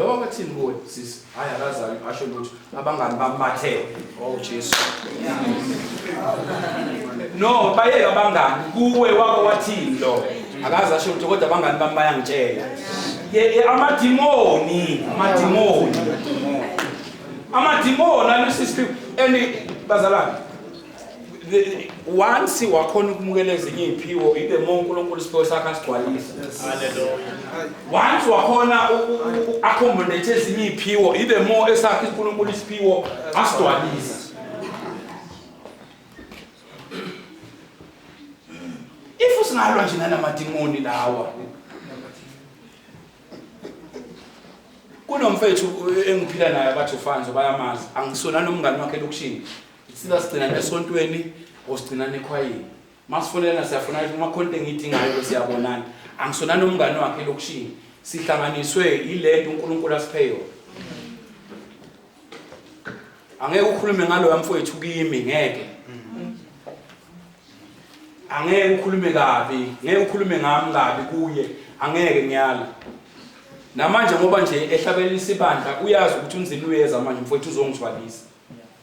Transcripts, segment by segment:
Loba bathini kuwe sisi hayi akazali asho lutho abangani bamathele. Oh Jesu. No bayeke abangani kuwe wako wathini lo akazi asho lutho kodwa abangani bami bayangitshela. Ye amadimoni amadimoni. Amadimoni alusisi and bazalwane once wakhona ukumukela ezinye iy'phiwo ibe mo unkulunkulu isiphiwo sakhe asigcwalise once wakhona accommodate ezinye iy'phiwo ibe mo esakhe unkulunkulu isiphiwo asigcwalise if usingalwa nje nanamadimoni lawa kunomfethu engiphila naye abathi ufanzo bayamazi angisona nomngane wakhe elokishini Sina sigcina esontweni or sigcina nekhwayini. Masifonelana siyafona ukuthi uma khona engidingayo bese siyabonana. Angisona nomngane wakhe lokushini. Sihlanganiswe ilento uNkulunkulu asiphe yona. Angeke ukhulume ngaloya mfowethu kimi ngeke. Angeke ukhulume kabi, ngeke ukhulume ngami kabi kuye. Angeke ngiyala. Namanje ngoba nje ehlabelisa ibandla uyazi ukuthi unzima uyeza manje mfowethu uzongithwalisa.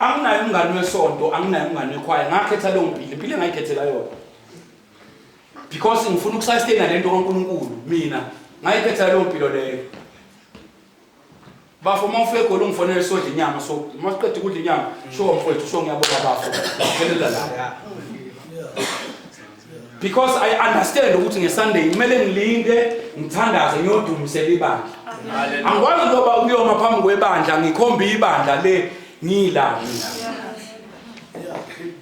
anginaye umngane wesonto anginaye umngane wekhwaya ngakhetha leyo mpilo impilo engayikhethela yona because ngifuna ukusastena le nto kankulunkulu mina ngayikhethela leyo mpilo leyo Bafo uma ufika egoli ungifonele sodla inyama so uma siqeda ukudla inyama sho mfowethu sho ngiyabona bafo ngelela la because i understand ukuthi ngesunday kumele ngilinde ngithandaze ngiyodumisela ibandla angikwazi ngoba ukuyoma phambi kwebandla ngikhombe ibandla le ngiyilanga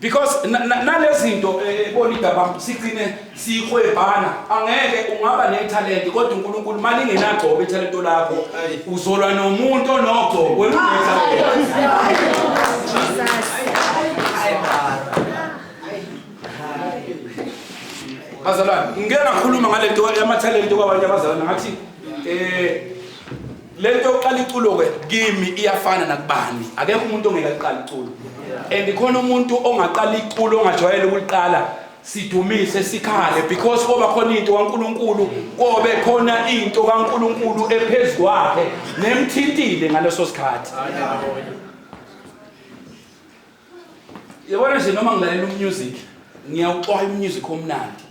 because nalezinto eh, ebona igabam sigcine sihwebhana angeke ungaba nethalente kodwa uNkulunkulu mali ngenagcobo ithalente lakho uzolwa nomuntu onogcobo wenqeza bazalwane ngeke ngakhuluma ngalento yamathalente kwabanye abazalwane ngathi eh lento yokuqala iculo ke kimi iyafana nakubani akekho umuntu ongeke aqala iculo and khona umuntu ongaqala iculo ongajwayele ukuliqala sidumise sikhale because koba khona into kaNkuluNkulu kobe khona into kaNkuluNkulu ephezulu kwakhe nemthintile ngaleso sikhathi yabona nje noma ngilalela umusic ngiyawuxwaya umusic omnandi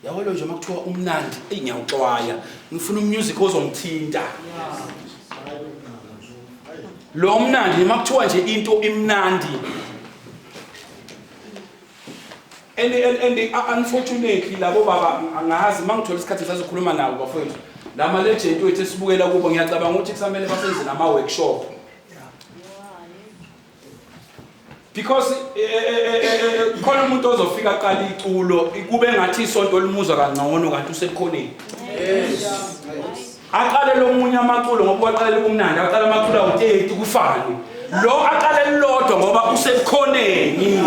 yabona nje uma kuthiwa umnandi eyi ngiyawuxwaya ngifuna umusic ozongithinta lo mnandi noma kuthiwa nje into imnandi and and and unfortunately labo baba angazi mangithola isikhathi sazokhuluma nabo bafowethu lama legend wethu esibukela kubo ngiyacabanga ukuthi kusamele basenzele ama workshop because eh, eh, eh, khona umuntu ozofika aqala iculo kube ngathi isonto limuzwa kangcono kanti usekhoneni aqale lomunye amaculo ngoba waqalela ubumnandi aqala amaculo awu-30 kufane lo aqale lilodwa ngoba usekhoneni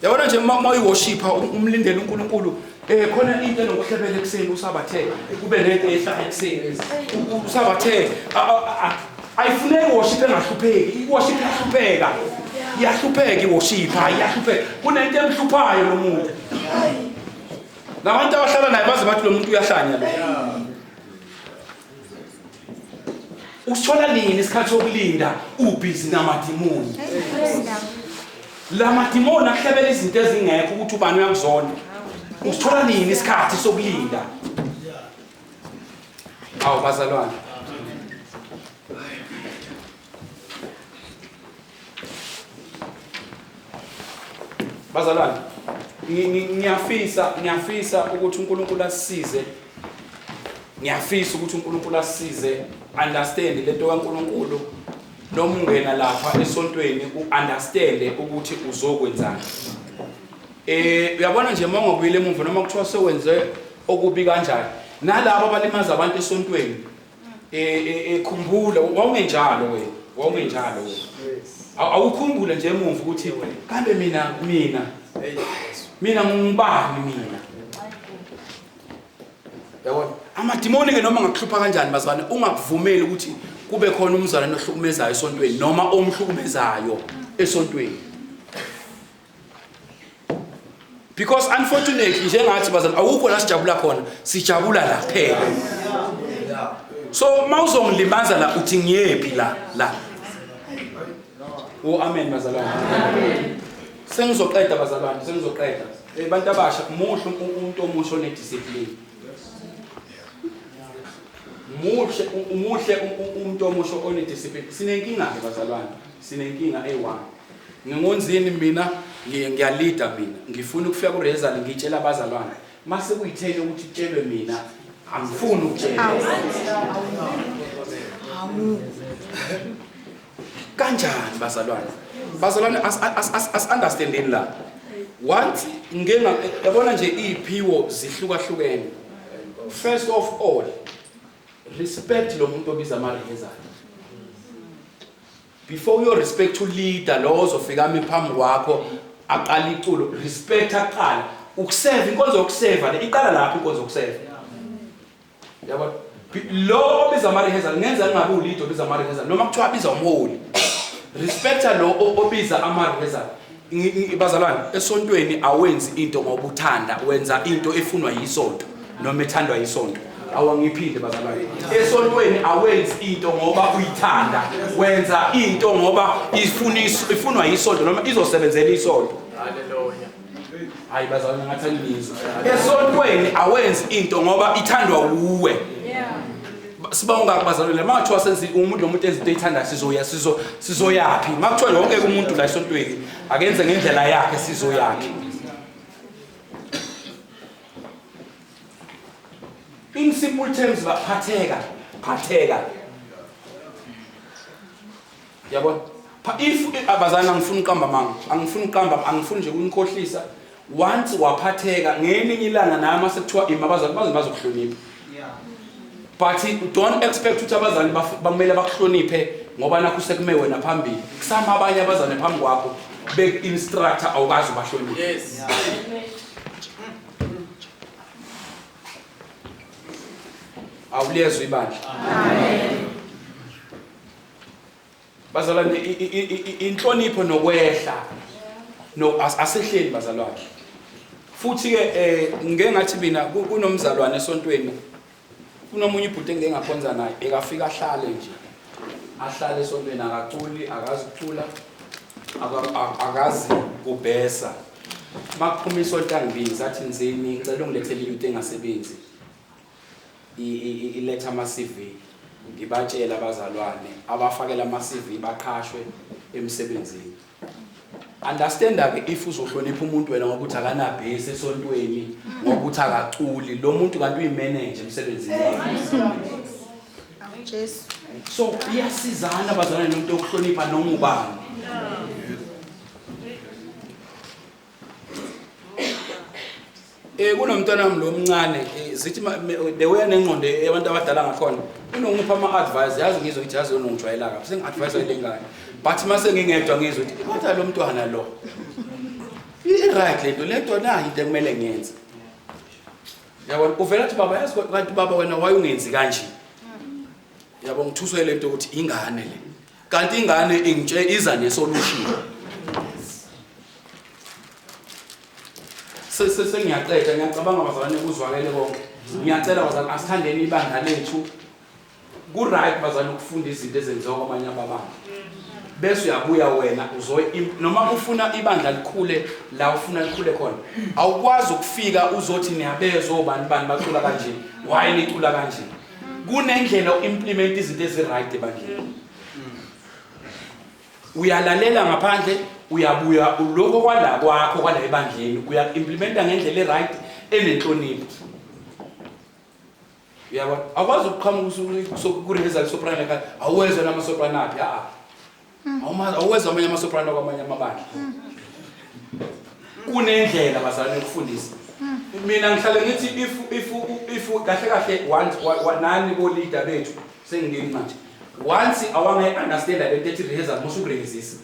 yabona nje uma uyiwoshipha umlindele unkulunkulu um khona into enokuhlebela ekuseni usabathe kube nento ehlala ekuseni usabathe ayifuneki iwoshiphe engahlupheki iwoshiphe ihlupheka iyahlupheka iwoshipha iyahlupheka kunento emhluphayo lo muntu labantu abahlala naye baze bathi lo muntu uyahlanya lo usithola nini isikhathi sokulinda ubhizi namadimoni la madimoni akuhlebela izinto ezingekho ukuthi ubani uyakuzona usithola nini isikhathi sokulinda awu bazalwane Bazalwane, ngiyafisa ngiyafisa ukuthi uNkulunkulu asisize. Ngiyafisa ukuthi uNkulunkulu asisize understand lento kaNkulunkulu noma ungena lapha esontweni uunderstand ukuthi uzokwenzani eh uyabona nje uma ungabuyile emuva noma kuthiwa sewenze okubi kanjani nalabo abalimaza abantu esontweni e, e, ekhumbula wawungenjalo wena wawungenjalo wena awukhumbule nje emuva ukuthi kambe mina mina mina ngingubani mina yabona amadimoni ke noma ngakuhlupha kanjani bazwane ungakuvumeli ukuthi kube khona umzalwane ohlukumezayo esontweni noma omhlukumezayo esontweni because unfortunately njengathi bazali awukho la sijabula khona sijabula la phela so uma uzongilimaza la uthi ngiyephi la la o oh, amen bazalwane sengizoqeda bazalwane sengizoqeda eh, abantu abasha muhle umuntu omusha onediscipline muhle umuhle umuntu omusha onediscipline sinenkinga-ke bazalwane sinenkinga eyi-one Ngingonzini mina ngiyalida mina ngifuna ukufika kuRezal ngitshela abazalwane mase kuyithele ukuthi tshelwe mina angifuni ukutshela kanjani bazalwane bazalwane as-understandeni la once ngenga yabona nje iy'phiwo zihlukahlukene first of all respect lo muntu obiza amarehezana Before uyo respect u leader lo ozofika ami phambi kwakho aqala iculo respect aqala ukuseva inkonzo yokuseva le iqala lapho inkonzo yokuseva yabo lo obiza ama rehearsal ngenza ngingabe ulido obiza ama rehearsal noma kuthiwa biza umholi respecta lo obiza ama rehearsal Bazalwane, esontweni awenzi into ngoba uthanda, wenza into efunwa yisonto noma ethandwa yisonto. Awangiphinde bazalwane. Esontweni awenzi into ngoba uyithanda, wenza into ngoba ifuniswa ifunwa yisonto noma izosebenzela isonto. Haleluya. Hayi bazalwane ngathi angizwa. Esontweni awenzi into ngoba ithandwa uwe. Siba ungaki bazalwane uma kuthiwa senzi umuntu lo muntu enza into eyithandayo sizoya sizo sizoyaphi uma kuthiwa yonke umuntu la esontweni akenze ngendlela yakhe sizoyaphi in simple terms baphatheka phatheka yabona pha if abazana angifuni uqamba manga angifuni uqamba angifuni nje kunikhohlisa once waphatheka ngelinye ilanga naye uma sekuthiwa ima abazali baze bazokuhlonipha but don't expect ukuthi abazali bamele bakuhloniphe ngoba nakho sekume wena phambili kusama abanye abazane phambi kwakho beku-instructor awukazi ubahloniphe yes. awuliyezwa ibandla Bazalwane inhlonipho nokwehla no asehleli bazalwane. Futhi ke eh ngeke ngathi mina kunomzalwane esontweni kunomunye ibhuti engeke ngakhonza naye ekafika ahlale nje ahlale esontweni akaculi akazi kucula akazi kubhesa makuphuma isonto angibini sathi nzini ngicela ungilethele into engasebenzi iletha ama CV ngibatshele abazalwane abafakela ama CV baqhashwe emsebenzini understanda ke if uzohlonipha umuntu wena ngokuthi akanabhesi esontweni ngokuthi akaculi lo muntu kanti uyimanager emsebenzini wakhe Jesu so iyasizana bazalwane nomuntu okuhlonipha noma ubani Eh kunomntwana wami lomncane eh, zithi bewuya nengqondo yabantu abadala ngakhona unongipha ama advice yazi ngizwe ukuthi yazi unongijwayela kabi sengi advice elingane but mase ngingedwa ngizwe ukuthi kodwa lo mntwana lo i right lento lento na into kumele ngenze yabona uvela ukuthi baba yazi kanti baba wena wayungenzi kanje yabo ngithuswe lento ukuthi ingane le Kanti ingane ingitshe iza nesolution. Sese sengiyaqeda ngiyacabanga bazalwane kuzwakele konke. Ngiyacela bazalwane asithandeni ibandla lethu. Ku right bazalwane ukufunda izinto ezenziwa kwamanye ababanga. Bese uyabuya wena uzoy noma ufuna ibandla likhule la ufuna likhule khona. Awukwazi ukufika uzothi niyabezwa obani bani bacula kanje. Why nicula kanje? kunendlela u-implimenta izinto ezi-right ebandleni uyalalela ngaphandle uyabuya uloko kwala kwakho kwala ebandleni uya-implimenta ngendlela e-right enenhlonipho uyabona akwazi ukuqhamuka usuku kuresulsoprana awezwa namasoprana aphi a-a Awumazi awuwezwa amanye amasoprano kwamanye amabandla. Kunendlela bazalwane yokufundisa. Mina ngihlale ngithi if if if kahle kahle once wa- wa- nani bo leader bethu sengingeni manje. Once awange understand le nto ethi rehearsal musu kurehezisa.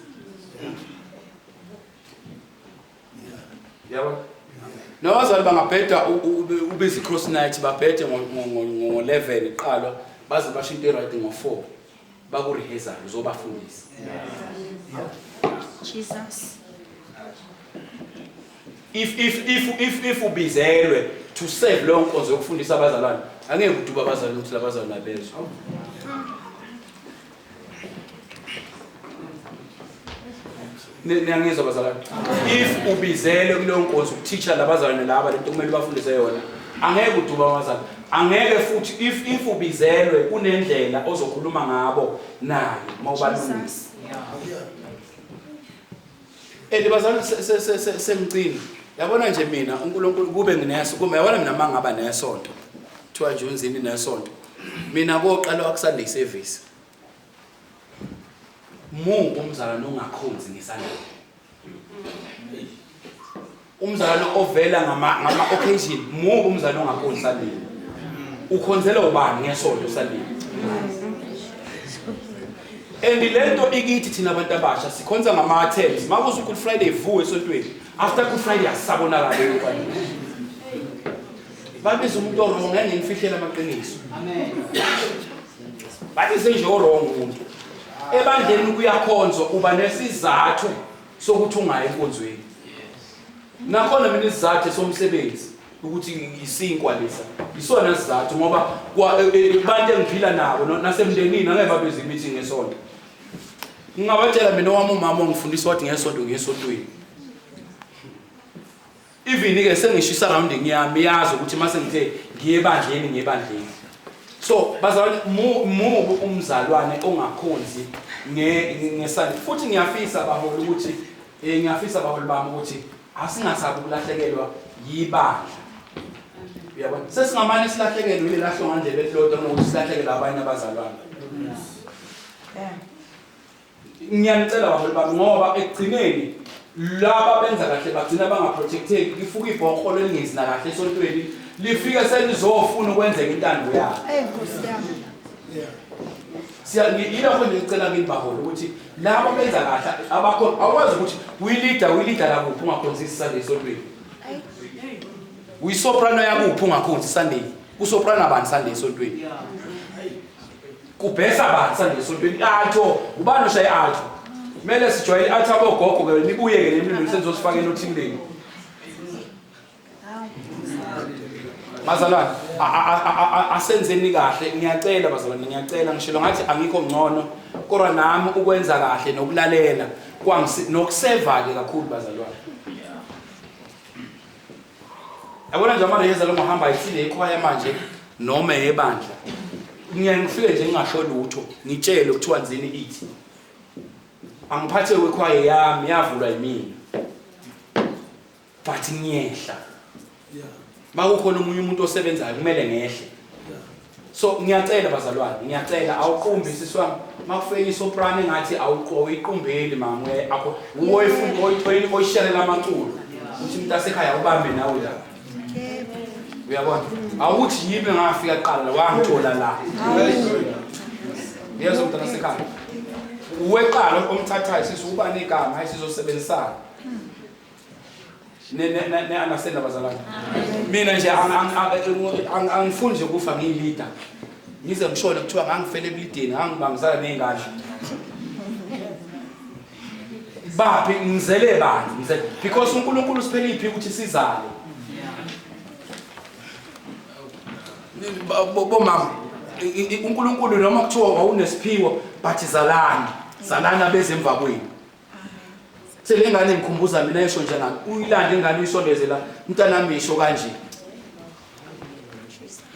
Yabo. Nabazali bangabheda u- u- ube- ube izi cross night babhede ngo ngo- ngo- ngo 11 iqalwa baze basho into right ngo 4. bakurihezana uzobafundisa Jesus if if if if if ubizelwe to serve leyo nkonzo yokufundisa abazalwane angeke uduba abazalwane ukuthi labazalwane abezwe niyangizwa bazalwane if ubizele kuleyo nkonzo ukuthisha labazalwane laba lento kumele ubafundise yona angeke uduba abazalwane angeke futhi if if ubizelwe kunendlela ozokhuluma ngabo naye uma ubalungisa and bazalwane sengicini yabona nje mina unkulunkulu kube ngineso kumbe yabona mina uma ngaba nesonto kuthiwa nje unzini nesonto mina koqala wakusanda iservice Mu umzalwane ongakhonzi ngesandla. Umzalwane ovela ngama ngama occasion, mu umzalwane ongakhonzi sandini. Ukhonzela ubani ngesonto sandini? And lento ikithi thina abantu abasha sikhonza ngama attempts. Makuze uGood Friday vuwe esontweni. After Good Friday asabonakala lokho. Babiza umuntu owrong ngeke ngimfihlela amaqiniso. Amen. bathi senje orong umuntu ebandleni kuyakhonzwa uba nesizathu sokuthi ungayi enkonzweni nakhona mina isizathu somsebenzi ukuthi ngisinkwa lesa isona sizathu ngoba abantu e, e, engiphila nabo nasemndenini angeke babeze imithi ngesonto ngingabatshela mina owami umama ongifundisa wathi ngesonto ngesontweni Even ke sengisho surrounding yami yazi ukuthi mase ngithe ngiye bandleni ngiye bandleni. So bazalwane mubu umzalwane ongakhonzi nge ngesani futhi ngiyafisa baholi ukuthi eh ngiyafisa baholi bami ukuthi asingasabi ukulahlekelwa yibandla. Uyabona? Sesingamane silahlekelwe ile lahlongandlebe elilodwa nokuthi silahlekelwe abanye abazalwane. Yeah. ngiyanicela baholi bami ngoba ekugcineni laba benza kahle bagcina bangaprotecteki lifuka ibhokho lelingenzi nakahle esontweni lifike selizofuna ukwenzeka intando yalo yilokho nje ngicela kini baholi ukuthi laba benza kahle abakhona awukwazi ukuthi uyilida uyilida lakuphi ungakhonzi isunday esontweni uyisoprano yakuphi ungakhonzi isunday kusoprano abani sunday esontweni Kubhesa bani sanje esontweni i-alto ngubani oshaye i-alto kumele sijwayele i-alto abogogo ke nibuye-ke nemlilo senzosifaka enothini lenu bazalwane asenzeni kahle ngiyacela bazalwane ngiyacela ngishilo ngathi angikho ngcono kodwa nami ukwenza kahle nokulalela nokuseva-ke kakhulu bazalwane yabona nje amareyeza lo ngohamba ayithile ikhwaya manje noma eyebandla ngiyaye ngifike nje ngingasho lutho ngitshele kuthiwa nzini ithi angiphathe kwekhwaye yami yavulwa yimina but ngiyehla makukhona omunye umuntu osebenzayo kumele ngehle so ngiyacela bazalwane ngiyacela awuqumbi sisi wami makufika isoprano engathi awuyiqumbeli mama akho uwoyifunda oyithoyini oyishelela amaculo uthi umuntu asekhaya ubambe nawe la uyabona awuthi yimi ngafika kuqala la wangithola la yezo mntana sekhaya uweqala omthathayo sisi uba negama hayi sizosebenzisana ne-understand abazalwane mina nje angifuni nje kufa ngiyilida ngize ngishone kuthiwa ngangifele ebulideni ngangibambisana ney'ngadla baphi ngizele bani ngizele because unkulunkulu siphela iphi ukuthi sizale bomama unkulunkulu noma kuthiwa wawunesiphiwo but zalani zalani abeze emva kwenu selengane ngikhumbuza mina esho nje ngami uyilande ingane uyisondeze la mntanami isho kanje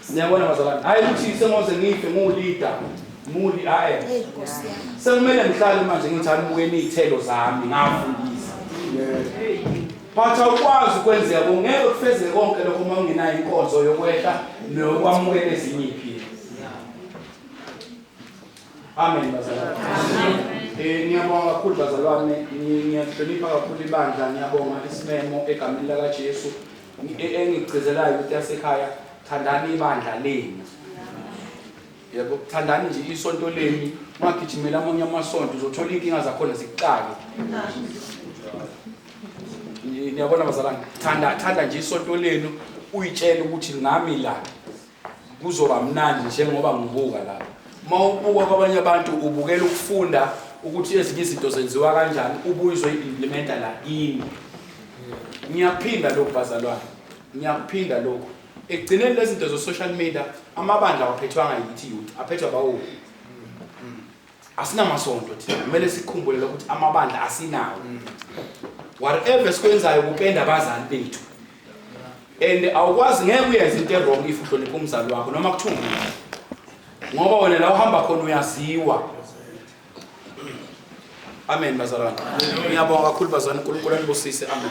niyabona bazalwane hayi ukuthi sengoze ngife ngulida muli hayi sekumele ngihlale manje ngithi anibukeni iy'thelo zami ngafundisa but awukwazi ukwenzeka kungeke kufezeke konke lokho uma ungenayo inkonzo yokwehla neyokwamukela ezinye iy'philo Amen bazalwane. Eh ngiyabonga kakhulu bazalwane, ngiyahlonipha kakhulu ibandla, ngiyabonga isimemo egameni laka Jesu. E, engigcizelayo ukuthi yasekhaya thandani ibandla lenu. Yebo, thandani nje isonto lenu, ungagijimela amanye amasonto uzothola inkinga zakhona zikuxake. Niyabona bazalwane, thanda thanda nje isonto lenu uyitshele ukuthi ngami la. kuzoba mnandi njengoba ngibuka la uma ubuka kwabanye abantu ubukela ukufunda ukuthi ezinye izinto zenziwa kanjani ubuye uzoyi-implimenta la kini ngiyakuphinda lokhu bazalwane ngiyakuphinda lokhu ekugcineni lezi zinto zo-social media amabandla awaphethwanga yithi youth aphethwa bawo asinamasonto thina kumele sikhumbule lokuthi amabandla asinawo mm. whatever esikwenzayo kupenda abazali bethu and awukwazi ngeke uyenze into ewrong if uhlonipha umzali wakho noma kuthiwa ngoba wena la uhamba khona uyaziwa amen bazalwane ngiyabonga kakhulu bazalwane unkulunkulu anibusise amen